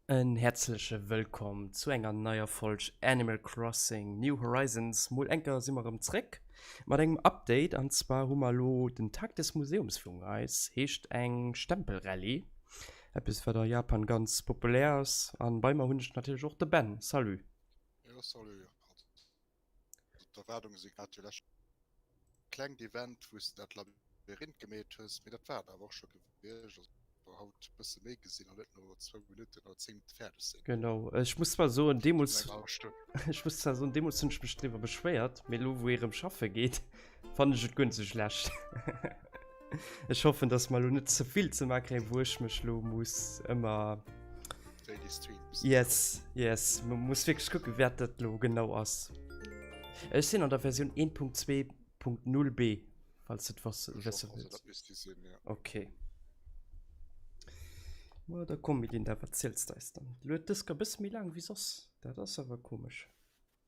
En häerzleche Wëllkomm zu enger neier Folg Animal Crossing New Horizons. Mol enker si mer erëm zréck mat engem Update an zwar hu mer elo den Tag des Museums virun eis. Heescht eng Stempelrallye. Eppes wat a Japan ganz populär ass an bei mer hunn ech natierlech och de Ben. Salut. Jo salut Pat. D'Erwaardunge sinn grad déi lescht. Klengt Event wou s de dat Labyrinth gemeet hues, mee dat war et awer och scho gewiescht. Also war haut e bësse méi gesinn an net no zwou Minutten oder zéng Minutte fäerdeg sinn. Genau, ech muss zwar soen deemools, ech muss zwar soen deemools hunn ech mech driwwer beschwéiert, mee elo wou ee rëm schaffe geet, Fan ech et gun ze schlecht. Ech hoffen, dass mal net zevill ze makre wurschmech lo muss ëmmer yes, yes. Man muss wirklich gucken wer dat lo genau ass. Ech sinn an der Version 1.2.0 B falls het was okay. Well da komm mit den der verzielst eis dann. Luet dës ka bësse méi laang wéi soss. Dat ass awer komesch.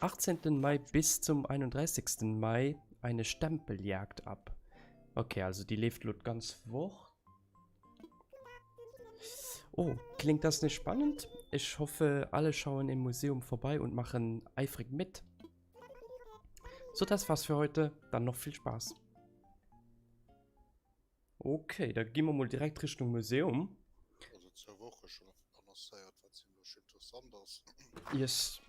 18 Mai bis zum 31 Mai eine Stempeljagd ab okay also die lebt lo ganz woch oh klingt das nicht spannend ich hoffe alle schauen im Museum vorbei und machen eifrig mit so das war's für heute dann noch viel Spaß Ok, da gi mer mol direkt Richtung Museum. Also zwou Woche schon annoncéiert, wat ziemlech interessant ass. Yes.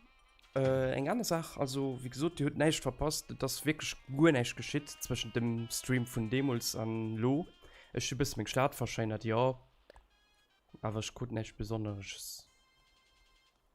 Äh, eng aner Saach, also wéi gesot, Dir hutt näischt verpasst, et ass wierklech guer näischt geschitt zwëschent dem Stream vun deemools an elo. Ech hu bësse meng Stad verschéinert, jo, awer ech krut näischt Besonneresches.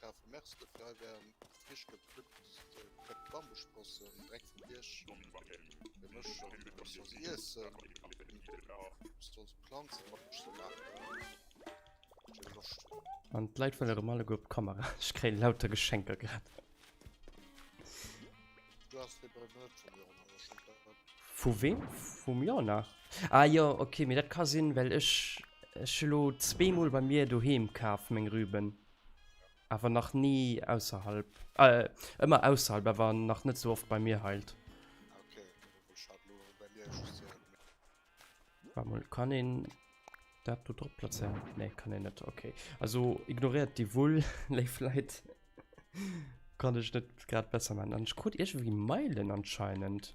brave Mers de frei wären frisch gepflückt Bambussprossen dreck vum Bierg Planzen An d'Leit vun der Romalle gouf Kamera Ech kréi lauter Geschenker grad. Vu wem? Vum Jana? Ah jo, okay, mee dat ka sinn, well ech ech elo zweemol bei mir doheem kaf meng Rüben. Awer nach ni ausserhalb. Äh, ëmmer ausserhalb, awer nach net sou oft bei mir heilt. War mol kann een dat do drop plazéieren? Nee, kann een net. Okay. Also ignoriert déi Wull, léif Leit. Kann ech net grad besser man. An ech krut iergendwéi Meilen anscheinend.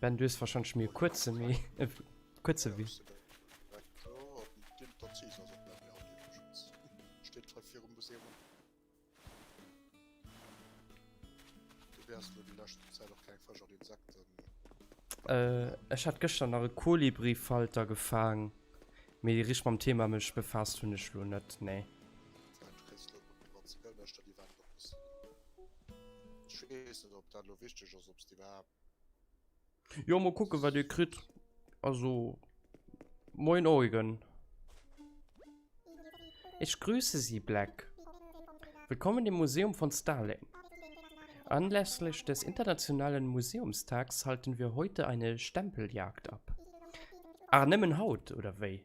Ben du hues wahrscheinlech mir kuerze méi äh, kuerze wéi. Äh, ech hat gëschter nach e Kolibri-Falter gefaang. Mee déi rich mam Thema mech befaasst hunn ech lo net, nee. Ech wees net op dat lo wichteg ass obs de iwwerhaapt. Jo mol kucken wat dir kritt. Also moin Eugen. Ich grüße Sie, Black. Willkommen im Museum von Stalin. Anlässlich des Internationalen Museumstags halten wir heute eine Stempeljagd ab. Ach, nëmmen haut, oder wéi?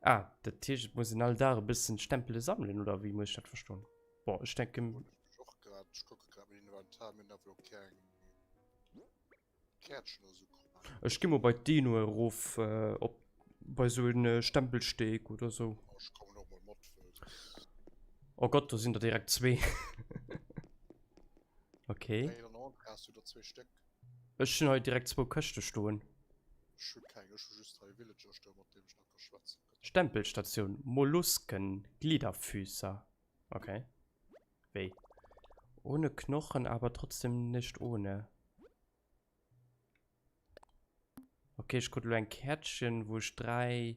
Ah, dat Tisch, et muss en all Dag e bëssen Stempele sammelen oder wéi muss ich dat verstoen? Boah, ich denke. Ich och grad, ich gucke grad mit Inventar, mir nach lo keng Kärtchen oder so kommen. Ich geh mal bei Dino erof, äh, ob bei so en äh, Stempelsteg oder so. Oh, ich komme noch mal mit. Oh Gott, da sind da direkt zwei. okay. Hey, dann hast du da zwei Stück. Ech hun hei direkt zwou Këschte stoen. Ech hu keng, ech hu just hei e Villager stoen, mat deem ech nach ka schwätzen. Stempelstatioun, Mollusken, Gliederfüßer, ok. Wéi? Ohne Knochen, aber trotzdem nicht ohne. Ok, ech krut elo eng Käertchen, wou ech 3.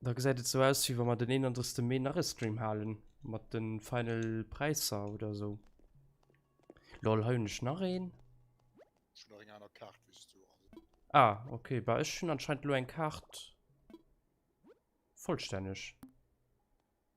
Da gesäit et sou aus wéi wa mer den 31 Mee nach e Stream halen mat den final Präisser oder sou. Lol hei hunn ech nach een. Ech hunn nach eng aner Kaart wéi s du. Ah ok, bah ech hunn anscheinend elo eng Kaart vollstänneg.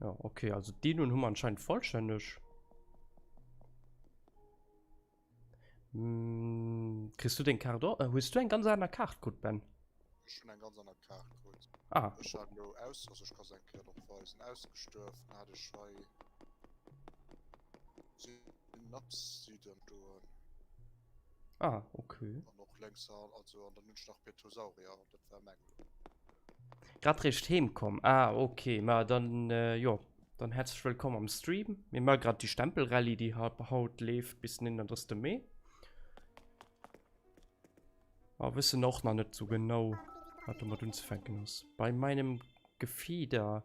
Ja, okay, also die nun haben wir anscheinend vollständig. Hm, kriegst du den Karte? Äh, hast du eine ganz andere Karte, gut, Ben? Ich habe eine ganz andere Karte, gut. Ah. Ich habe nur aus, also ich kann es eigentlich noch weisen, ausgestürft, hatte ich schon. Den Naps sieht dann du an. Ah, okay. Und noch längs an, also an der Münch nach Petosaurier, das war mein. Grad recht heimkommen. Ah, okay. Ma dann, äh, jo. Dann herzlich willkommen am Stream. Mir machen gerade die Stempelrallye, die haut lebt bis 31. Mai. Aber ah, wissen auch noch nicht so genau, was damit uns fänken ist. Bei meinem Gefieder.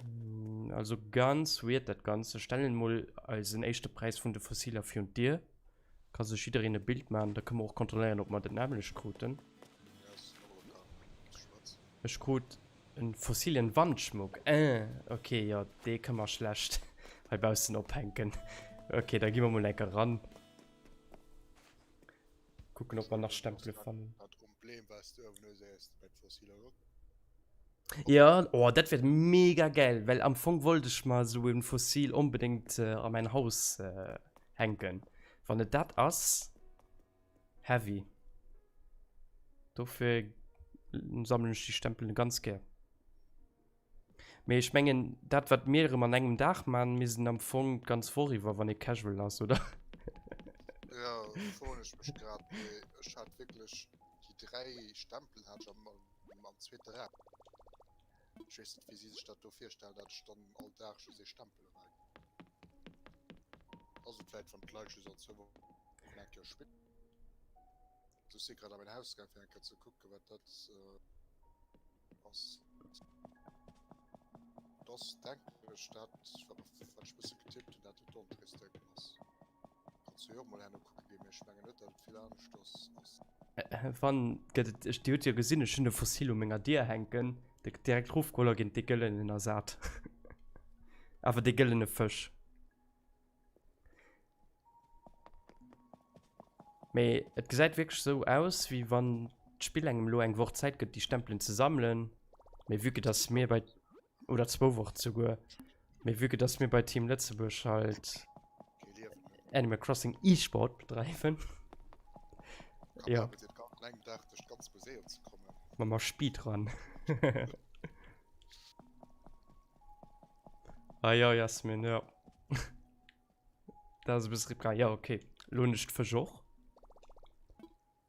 Hm, also ganz weird dat Ganze. Stellen mal eisen echte Preis vun de Fossiler fir und Dir. Ka sech jiddereen e Bild machen, da können wir och kontrolléieren, ob mer den nämlech kruten. Ech krut en fossilen Wandschmuck. Äh, okay, ja, dee können wir schlecht heibaussen ophänken. Okay, da gehen wir mal enker ran. Gucken, ob wir nach Stempel fangen. Problem, was du Ja, oh, dat wäert mega gäil, well am Fong wollt ech mer esou en Fossil onbedéngt an mäin Haus hänken, wann et dat ass. Heavy. Dofir sammelen ech déi Stempelen ganz gär. Mee ech mengen dat wat mir erëm an engem Dag man missten am Fong d'ganz Woch iwwer wann ee casual ass oder? Jo froen ech mech grad mee ech hat wierklech déi 3 Stempelen hat ech am. mam zweete Rad. Ech weess net, wéi si sech dat do virstellen, dat ech dann all Dag just ee Stempel un engem. Ass et vläicht, wann d'Leit just all zwou Wochen eng Kéier spitt? Also ech si grad a mäin Haus gaang, fir eng Kéier ze kucken, wat dat ass. Et ass, denken ech, dat, wat ech bësse getippt hunn, dat et d'Entrées-Décken ass. Äh, wann gëtt et, ech, Dir hutt jo gesinn, ech hunn e Fossil u menger Dier hänken, dee gëtt direkt rofgeholl a géint dee gëllenen ersat. Awer dee gëllene Fësch. Mee et gesäit wierklech esou aus, wéi wann d'Spill engem elo eng Woch Zäit gëtt, déi Stempelen ze sammelen. Mee vue que dass mir bei. Oder zwou Wochen souguer. Mee vu dass mir bei Team Lëtzebuerg halt Animal Crossing E-Sport bedreiwen. Ja. Ma ma Speed ran. ah ja Jasmin, ja. Da se bis Ripka, ja okay. Lo nicht für Joch.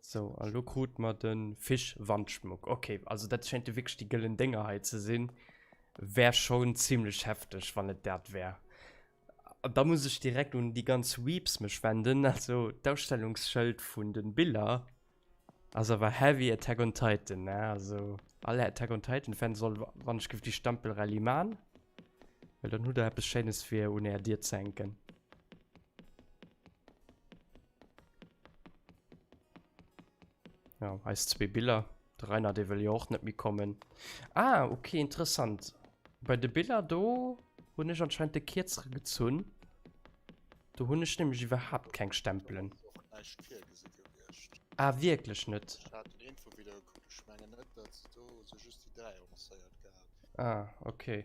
So, an lo krut mer de Fischwandschmuck. Okay, also dat schéint jo wierklech déi gëllen Dénger hei ze sinn. Wär schon zimlech hefteg, wann et dat wär. An da muss ech direkt un déi ganz Weebs mech wenden, also d'Ausstellungsschëld vun de Biller ass awer heavy Attack on Titan, ne? Also all Attack on Titan-Fan soll wannechgef déi Stempelrallye man, well dann hutt der eppes Schéines fir un är Dier ze hänken. Ja, eis zwee Biller. De Rainer, dee wëll jo och net méi kommen. Ah, okay, interessant. Bei de Biller do hunn ech anscheinend de Kierzere gezunn. Do hunn ech nämlech iwwerhaapt keng Stempelen. Ah, wierklech net? Ah, okay.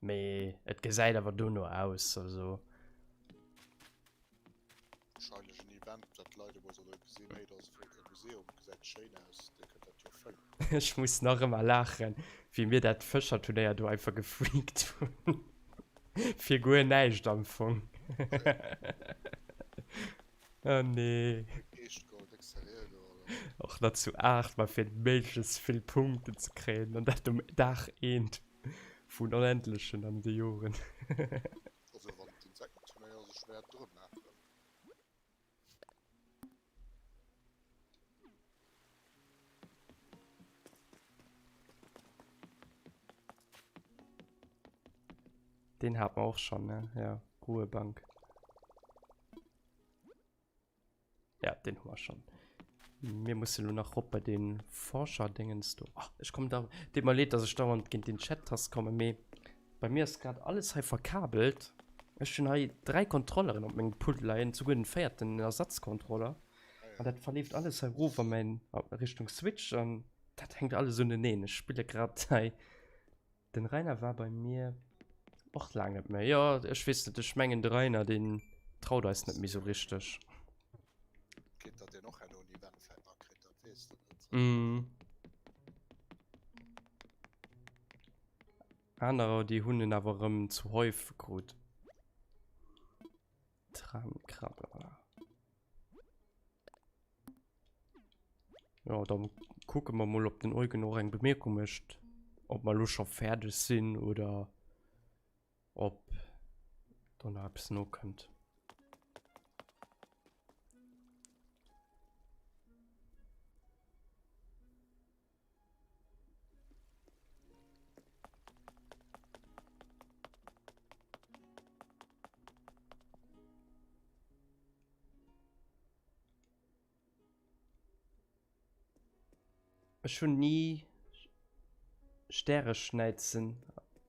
Mee et gesäit awer dono aus, also. Wahrscheinlech en Event, dat d'Leit emol solle gesinn, hey, do ass e flotte Museum, gesäit schéin aus, dir kënnt dat jo fëllen. Ech muss nach ëmmer laachen, wéi mir dat Fëscherturnéier do einfach gefreakt hunn. Fir guer näischt am Fong. Oh nee. Eescht Goal, déck Serie elo, oder? Och nach zu 8, ma fir méiglechst vill Punkten ze kréien, an dat um Dag eent. Vun onendlechen an de Joren. Also wann et Insektenturnéier ass, ech wäert et erëm maachen. Deen hat mer och schonn, ne? Jo, Ruhebank. Ja, den haben wir schon. Wir müssen nur nach op bei den Forscher Dingens do. Ach, ich komme da. Tut mir leid, dass ich dauernd gegen den Chat Tast komme, me bei mir ist gerade alles hei verkabelt. Ich schon hei drei Kontrolleren op meinem Pult leien, sogar den vierten Ersatzkontroller. Und das verlebt alles hei rüber mein Richtung Switch und das hängt alles unten. Ich spiele gerade hei. Den Rainer war bei mir och laang net méi. Jo, ech weess net, ech mengen de Rainer deen traut eis net méi sou richteg. Kritt dat deen och herno un Event fält a kritt, dat weess de net. Mm. Anerer déi hunn en awer erëm zu häufeg krut. Tramkrabbler. Ja, dann gucken wir mal, ob den Eugen noch eine Bemerkung möchte. Ob wir schon fertig sind oder ob dann noch etwas noch kommt. Ech hunn ni Stäreschnäizen.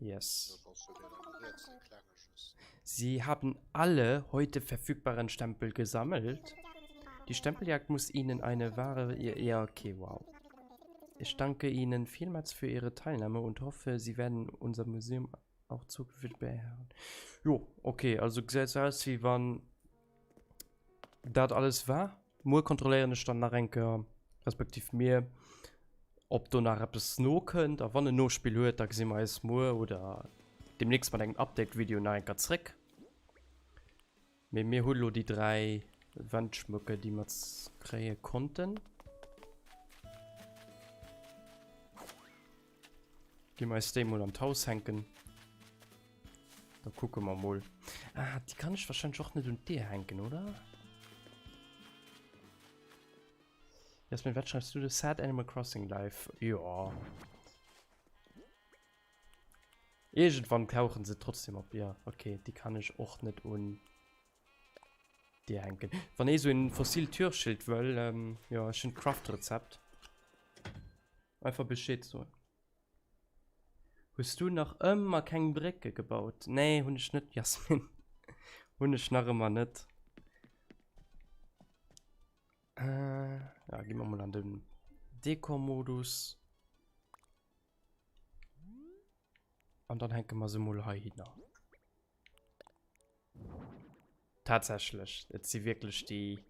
Yes. Sie haben alle heute verfügbaren Stempel gesammelt. Die Stempeljagd muss Ihnen eine wahre... Ja, okay, wow. Ich danke Ihnen vielmals für Ihre Teilnahme und hoffe, Sie werden unser Museum auch zukünftig beherren. Jo, okay, also sieht aus, wie wann dat alles war. Muer kontrolléieren ech dann nach enker, respektiv mir, ob do nach eppes nokënnt. A wann en Nospill huet, da gesi mer eis muer oder deemnächst mat engem Update-Video nach enker zréck. Mee mir hu lo déi dräi Wendschmëcke, déi mer kréie konnten. Ginn mir eis déi mol an d'Haus hänken. Da kucke mer mol. Ah, déi kann ech wahrscheinlech och net un d'Dier hänken, oder? Jasmin, wat schreibst du de Sad Animal Crossing Live? Ja. Irgendwann tauchen se trotzdem op, ja. Okay, die kann ich och net un Dier hänken. Wann ee so en fossil Türschild wëll, ähm, ja, ech hun d'Craft-Rezept. Einfach bescheed soen. Hues du nach ëmmer keng Brécke gebaut? Nee, hunn ech net, Jasmin. Hunn ech nach ëmmer net. Äh, ja, gi mer mol an den Dekor-Modus. An dann hänke mer se mol heihinner. Tatsächlich, et si wirklich die...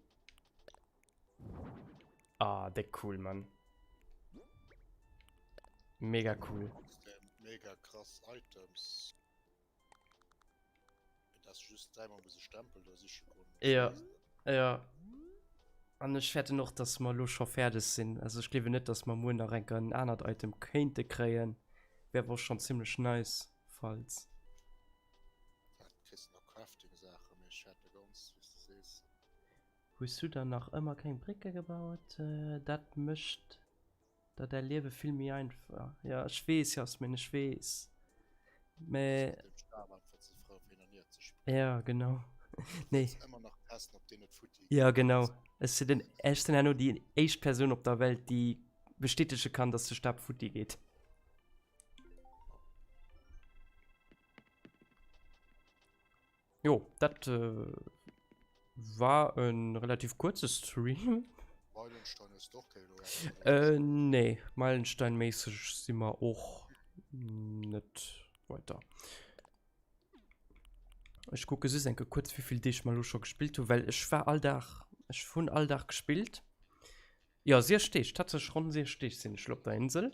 Ah, der cool, Mann. Mega cool. Mega krass Items. Das ist just dreimal bis Stempel, da sich Ja, ja. Und ich werde noch, dass wir los schon fertig sind. Also ich glaube nicht, dass wir morgen noch ein anderes Item könnte kriegen. Wäre wohl schon ziemlich nice. falls. Ja, du kriss nach Crafting Saachen, mee ech hat de ganz wéis de sees. Hues du dann nach ëmmer keng Brécke gebaut? Dat mécht der däi Liewe vill méi einfach. Ja, ech weess Jasmin, ech weess. Mee. Ech sinn dem Star einfach ze frou fir hien hir ze spillen. Ja, genau. Nee. Ech muss ëmmer nach testen, ob deen net futti geet. Ja, genau. Ech sinn den, ech sinn herno déi éischt Persoun op der Welt, déi bestätege kann, dass de Stab futti geet. Jo, dat äh, war en relativ kurze Stream. Meilenstein ist doch kein äh, Nee, Meilenstein-mäßig sind wir auch nicht weiter. Ich gucke so denke kurz, wie viel ich mal schon gespielt habe, weil ich war all Tag, ich von all Tag gespielt. Jo, siech Deeg, tatsächlech ronn siech Deeg sinn ech elo op der Insel.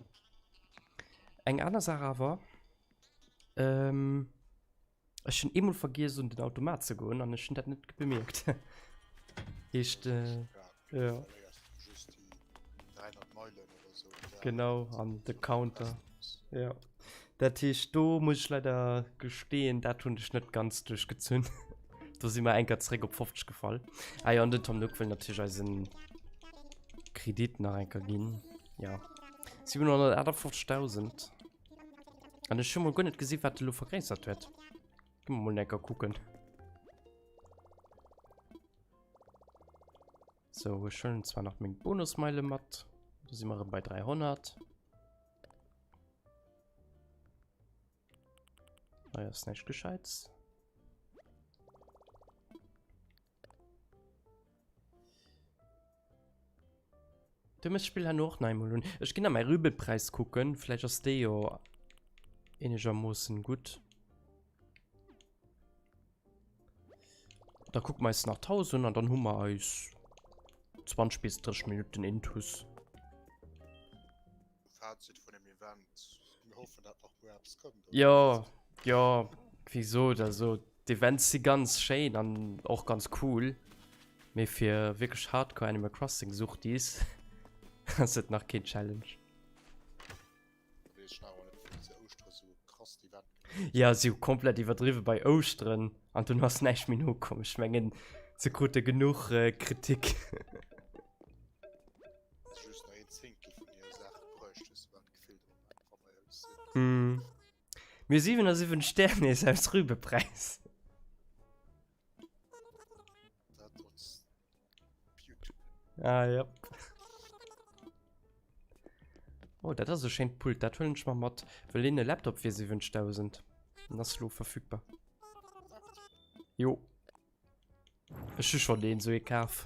Eng aner Saach awer, ech hunn eemol vergiess un den Automat ze goen an ech hunn dat net bemierkt. Heescht, jo. Genau, an de Counter. Ja. Dat heescht do muss ech leider gesteen, dat hunn ech net ganz duerch gezunn. do si mer enker zeréck op 50 gefall. Eier ah an den Tom Nook wëll natierch eisen Kredit nach enker ginn. Ja. 758.000. An ech hu mol guer net gesi wat de lo vergréissert huet. Gi mer mol enker kucken. So, ech hëllen zwar nach meng Bonusmeile mat. Da si mer bei 300. Naja, ist nicht gescheit. Du musst Spiel han och nei hun. Ech ginn a mei Rübelpreis kucken, Fläch ass dee jo enegermoossen gutt. Da guck meist nach 1000 an dann hu mer eis 20 bis 30 Minuten intus. Fazit von dem Event. Wir hoffen, dass noch mehr Apps kommen. Ja, ja, wieso? Also, die Events sind ganz schön und auch ganz cool. Mir für wirklich Hardcore Animal Crossing sucht dies. das ist noch kein Challenge. Ja, si hu komplett iwwerdriwwe bei Ouschteren an dunn ass näischt méi nokomm. Ech mengen, se krute genuch Kritik. Mir 77 Stär nees aus Rübe Präis. Ah, ja. Oh, dat ass e schéint Pult. Dat hëllen ech mal mat. Well een e Laptop fir 7000. Den ass lo verfügbar. Jo. Ech hu schon deen so e kaf.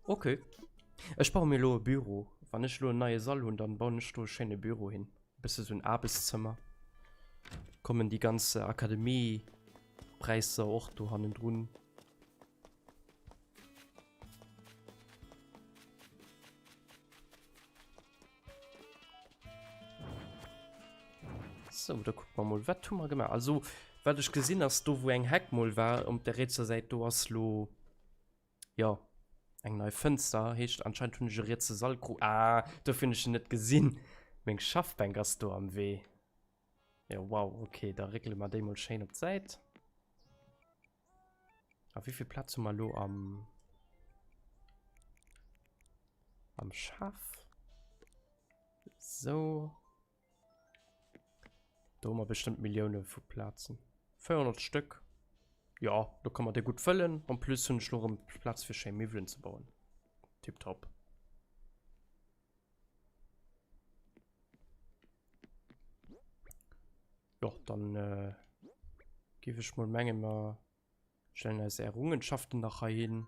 Okay. Ech baue mir lo e Büro. Wann ech lo en neie Sall hunn, dann bauen ech do e schéine Büro hin. Bësse sou en Aarbechtszëmmer. Kommen déi ganz Akademie-Präisser och do hannendrun? So, da gucken wir mal, was tun wir gemacht? Also, was ich gesehen habe, da wo eng Heck mal war, um der rechter Seite, do ass lo Jo, eng nei Fënster heescht anscheinend hunn ech e rietse Sall gru. Ah, dofir hunn ech en net gesinn. Meng Schaffbänk ass do am Wee. Jo, wow, okay, da réckele mer déi mol schéin op d'Säit. A wéi vill Plaz hu mer elo am. Am Schaff? Sou. Do hu mer bestëmmt Millioune vu Plazen. 400 Stëck. Ja, do kann man dee gut fëllen. En plus hunn ech lo erëm Plaz fir schéi Miwwelen ze bauen. Tiptop. Jo, dann, äh, giff ech mol mengen, mer Stellen eis Errungenschaften nach hei hin.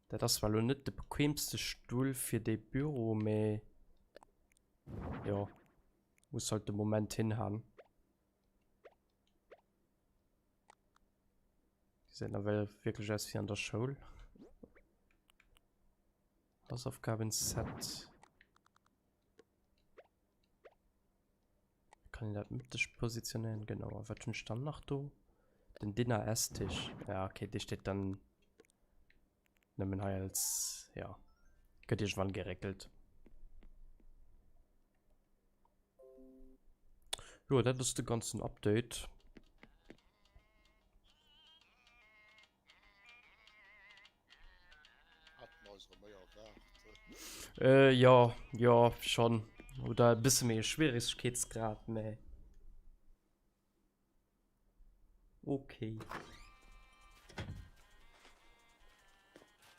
Dat ass zwar lo net de bequemste Stull fir de Büro, mee... Jo. Muss halt de Moment hinhauen. Die sehen da well wirklich aus wie an der Schoul. Hausaufgaben-Set. Kann dat mitteg positionieren genau a wat hun stand nach do den Dinner Esstisch ja okay Di steet dann nëmmen hei als ja gëtt Iech wann geréckelt. Jo dat ass de ganzen Update. Äh jo, jo schonn. Oder e bësse méi e Schwieregkeetsgrad, mä okay.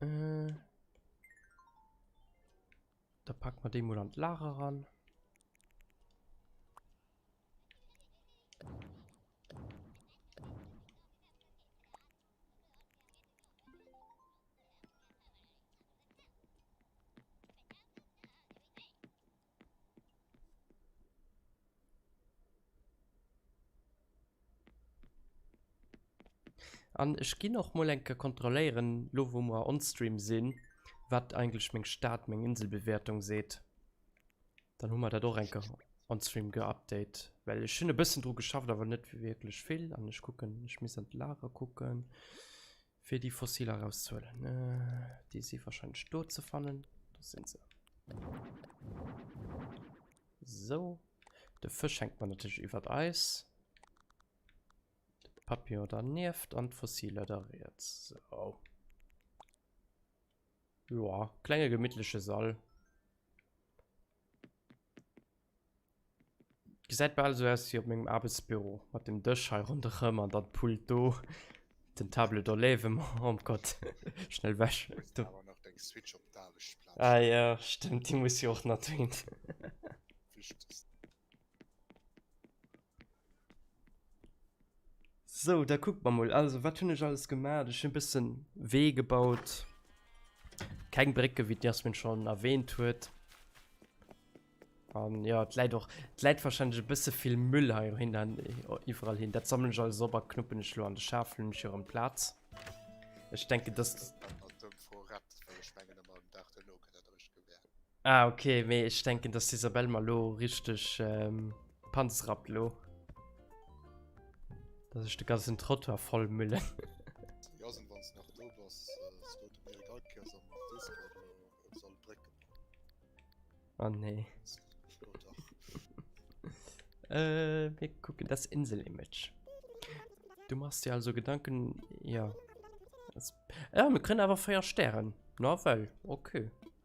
Äh. Da packen wir den mal an das Lager ran. An ech ginn och mol enke kontrolléieren, lo wou mer onstream sinn, wat eigentlech meng Stad, meng Inselbewertung seet. Dann hu mer dat och enke onstream geupdate. Well ech hunn e bëssen dru geschafft, awer net wierklech vill. An ech kucken, ech misst an d'Lager kucken. Fir déi Fossiler rauszuhuelen. Déi si wahrscheinlech do ze fannen. Do sinn se. Sou. De Fësch hänkt mer natierlech iwwer d'Eis. De Papillon dernieft an d'Fossiler da riets. Sou. Joa, klenge gemittleche Sall. Gesäit bal esou aus wéi op mengem Aarbechtsbüro, mat dem Dësch hei ronderëm an dann d'Pult do, den Table do léiwe mer, oh mon Gott, schnell wech do. Ah jo, stëmmt, déi muss jo och nach dohin. So, da guckt man mal. Also, was habe ich alles gemacht? Ich habe ein bisschen Weh gebaut. Kein Brücke, wie Jasmin schon erwähnt hat. Um, ja, es lädt auch, es lädt wahrscheinlich ein bisschen viel Müll hier hin, dann, äh, überall hin. Das sammle ich alles aber knuppen ich nur an den Schafel und hier am Platz. Ich denke, das. Ah ok, mee ech denken dass d'Isabelle mer lo richteg panzrappt lo. Dass ech de ganzen Trottoir voll müllen. Oh nee. äh, wir gucken das Insel-Image. Du machst dir also Gedanken, ja. Das, ja, wir können aber Feuer sterben. Na, weil, okay.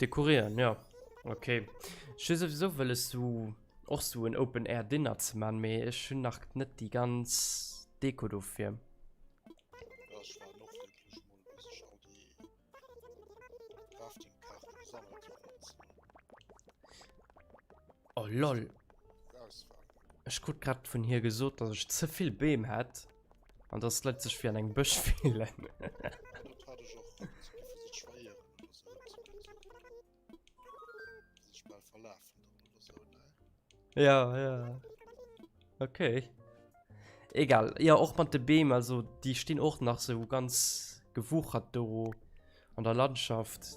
Dekorieren, ja. Okay. Ich will sowieso will es so auch so ein Open Air Dinner zu machen, aber ich schon nach nicht die ganz Deko dafür. Oh lol. Ich gut grad von hier gesucht, dass ich zu viel Beam hat. An dass d'Leit sech wéi an engem Bësch fillen. Ja, ja. Okay. Egal. Ja, och mat de Beem, also déi stinn och nach sou ganz gewuchert do an der Landschaft.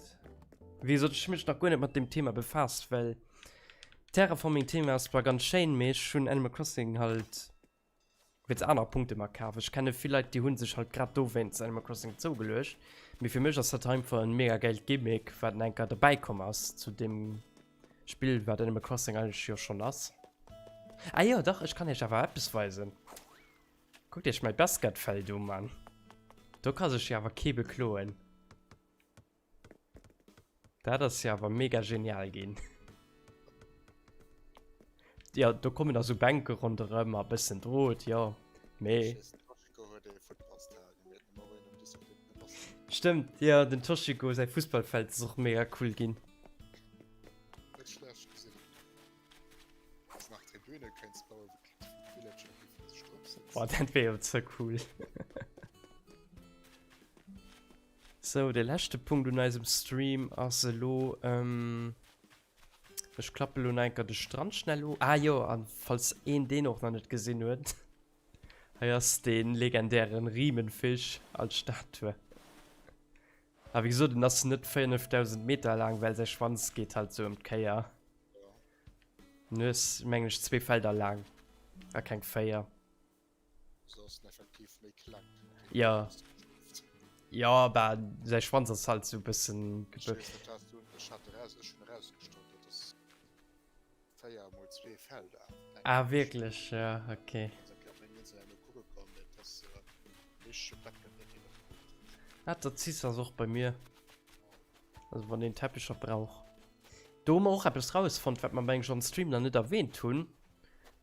Wéi sollt ech mech nach guer net mat dem Thema befaasst, well Terraforming-Thema ass zwar ganz schéin, mee ech hunn Animal Crossing halt Wéi ze aner Punkte mer kafen. Ech kenne vill Leit déi hunn sech halt grad do wéinst Animal Crossing zougeluecht, mee fir mech ass dat einfach en mega geilt Gimmick wat eng Kéier dobäi komm ass zu dem Spill wat Animal Crossing eigentlech jo schonn ass. Ah jo dach, ech kann iech awer eppes weisen. Kuckt iech mäi Basketfeld u Mann. Do ka sech jo awer kee bekloen. Dat ass ja awer mega genial ginn. Ja, do kommen also Bänke ronderëm a bëssen Drot, ja. Mee. Stëmmt, ja, den Toshiko säi Fußballfeld ass och mega cool ginn. Boah, dat wär jo ze cool. Sou, de leschte Punkt un eisem Stream ass elo, ech klappe elo nach enker de Strand schnell u, ah jo, an falls een deen och nach net gesinn huet, hei ass dee legendären Riemenfisch als Statue, a wéi gesot, en ass net 5000 Meter laang, well säi Schwanz geet halt sou em d'Kéier, en hues mengen ech zwee Felder laang, a keng véier. Ja. Ja, ba, säi Schwanz ass halt sou bëssen gebëckt. Ah, wierklech? Ja, okay. Ah, der Ziss ass och bei mir. Also, wann een Teppecher brauch. Do hu mer och eppes rausfonnt, wat mer, meng ech, am Stream nach net erwähnt hunn.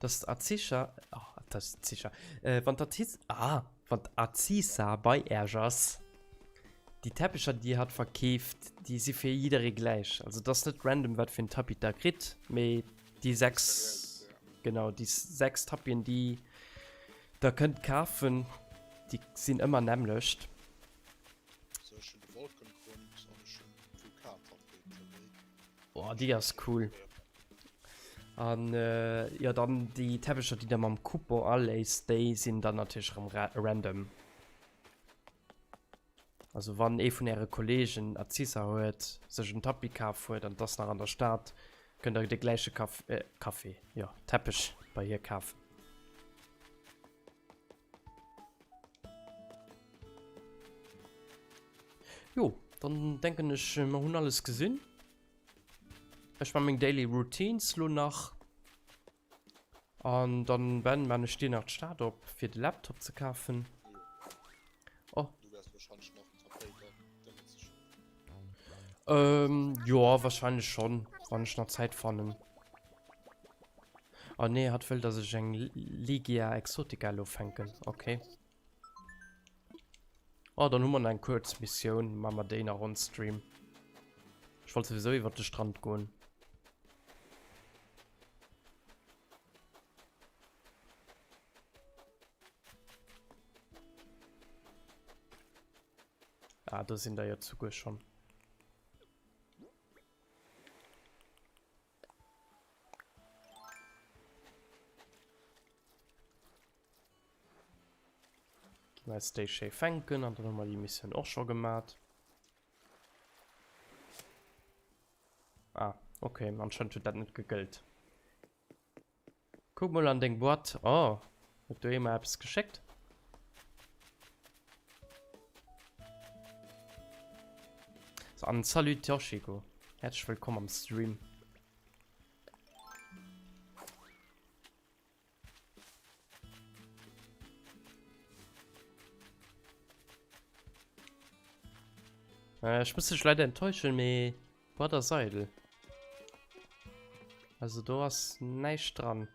dass d'Aziza, ah, d'Aziza, äh, wann d'Aziz, ah, wann d'Aziza bei Äerch ass, déi Teppecher, déi Dir hatt verkeeft, déi si fir jidderee gläich. Also, et ass net random, wat fir en Tapis Der kritt, mee déi sechs, genau, déi sechs Tapien, déi Der kënnt kafen, déi sinn ëmmer nämmlecht. Boah, die ass cool. An äh, ja dann die Teppecher, die der mam Coupon aléist, déi sinn dann natürlich rem ra random. Also wann ee vun äre Kollegen Azisa huet, sech en Tapis kaf huet an das nach an der Stad, kënnt der de gläiche Kaf äh, Kaffee, ja Teppech bei hir kafen. Jo, dann denken ech, äh, wir haben alles gesehen. Ich mache meine Daily Routines lo nach. Und dann werden wir nicht nach die Stadt ab, für den Laptop zu kaufen. Oh. Du wärst wahrscheinlich noch Ähm, joa, wahrscheinlech schon, wann ech nach Zäit fannen. Ah nee, hat wëll, dass ech eng Ligia Exotica lo fänken. Okay. Ah, dann hu mer eng kurz Mission, ma mer déi nach on Stream. Ich wollt sowieso iwwer de Strand goen. Ah, do sinn der jo zuguer schonn. Als déi schéi fänken an dann hu mer déi Missioun och scho gemat. Ah, okay, anscheinend huet dat net gegëllt. Kuck mol an deng Boîte. Oh, huet do ee mer eppes geschéckt? So, an Salut Toshiko. Herzlich willkommen am Stream. Äh, ich muss dich leider enttäuschen, mais... Wat ass eidel? Also do ass näischt dran.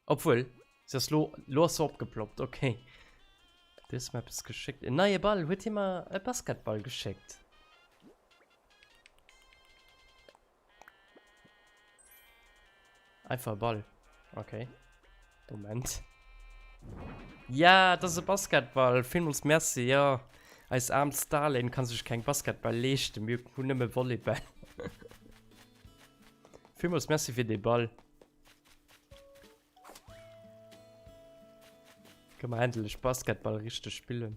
Obwuel, se ass lo, lo ass se opgeploppt, okay. Du hues mer eppes geschéckt. En neie Ball, huet hie mer e Basketball geschéckt? Einfach Ball. Okay. Moment. Ja, das ist ein Basketball. Vielmals merci, ja. Als arm Stalin kann sich kein Basketball leisten. Wir haben nur mehr Volleyball. Vielmals merci für den Ball. Können wir endlich Basketball richtig spielen.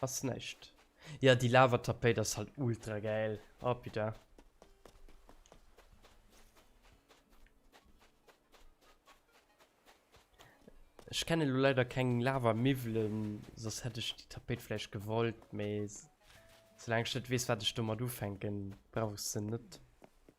Ass näischt. Ja, déi Lavatapéit ass halt ultra gäil. Oh putain. Ech kenne lo leider keng Lava-Miwwelen, soss hätt ech déi Tapéit vläicht gewollt, mee soulaang ech net weess, wat ech domat ufänken, brauch ech se net.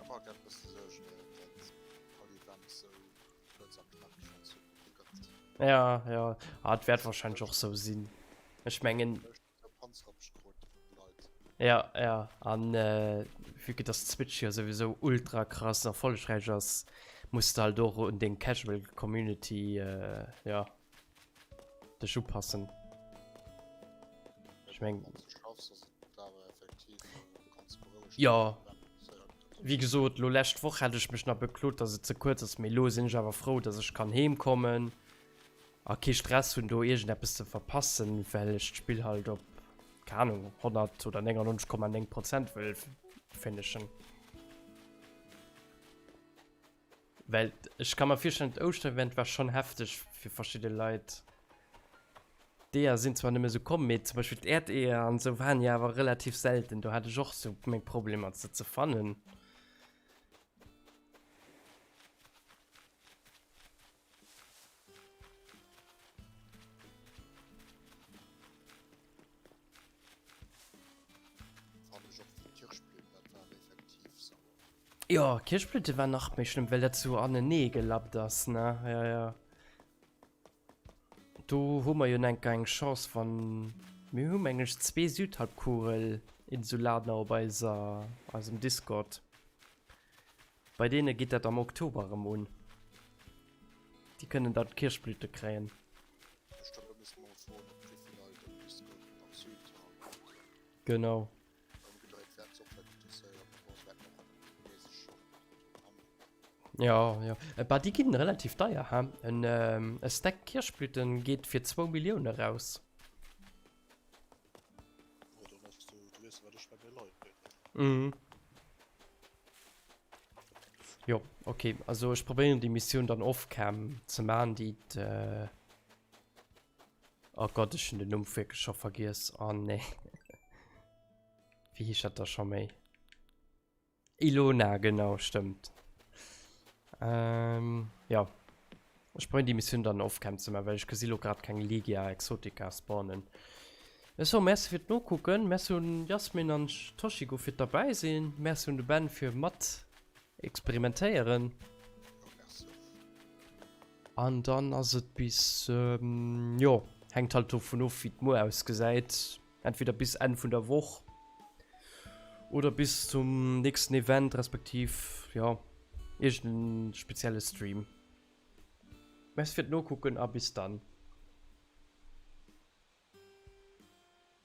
Am Alldag muss de sou schnell dat all Event sou kuerz a knackeg anzünden. Ja, ja. Ah, das wird wahrscheinlich auch so sein. Ich meine. Ja, ja. An äh, wie geht das Switch hier sowieso ultra krass erfolgreich ist, musst du halt auch in den Casual Community, äh, ja, Dech upassen. Ech meng. Jo. Wéi gesot, lo lescht Woch hat ech mech nach beklot, datt et ze kuerz ass, mee elo sinn ech awer frou, datt ech kann heem kommen a kee Stress hunn, do iergendeppes ze verpassen, well ech d'Spill halt op, keng Anung, 100 oder 99,9 Prozent wëll finishen. Well ech kann mer virstellen dat Ouschter Event war schon hefteg fir verschidde Leit. D'Eeër sinn zwar nëmme sou komm, mee zum Beispill d'Äerdeeër an sou waren jo awer relativ selten, do hat ech och sou meng Problemer se ze fannen. Jo, Kirschblüte war nach méi schlimm, well dat so anenee gelappt ass, ne? Ja, ja. Do hu mer jo enker eng Chance, wann... Mir hu meng ech zwee Südhalbkugel-Insulaner op eiser, eisem Discord. Bei deene geet dat am Oktober erëm un. Déi kënnen dann d'Kierchblüte kréien. Genau. Jo, jo. E bah, déi ginn relativ deier, he? En, e Stack Kierchblüte geet fir zwou Millioune eraus. Hm. Jo, okay. Also ech probéieren déi Missioun dann off-cam ze man, déi äh Oh Gott, ech hun den Numm wierklech scho vergiess. Oh nee. Wéi heescht dat da scho méi? Ilona, genau, stëmmt. Ähm, jo. Ech probéieren déi Missioun dann off-cam ze man, well ech gesi lo grad keng Legia Exotica spawnen. Eso merci fir d'Nokucken, merci un Jasmin an Toshigo fir d'derbäi sinn, merci un de Ben fir mat experimentéieren. An dann ass et bis jo hänkt halt dovun of wéi d'Muer ausgesäit, entweder bis Enn vun der Woch oder bis zum nächsten Event respektiv jo iergend en spezielle Stream. Merci fir d'Nokucken a bis dann.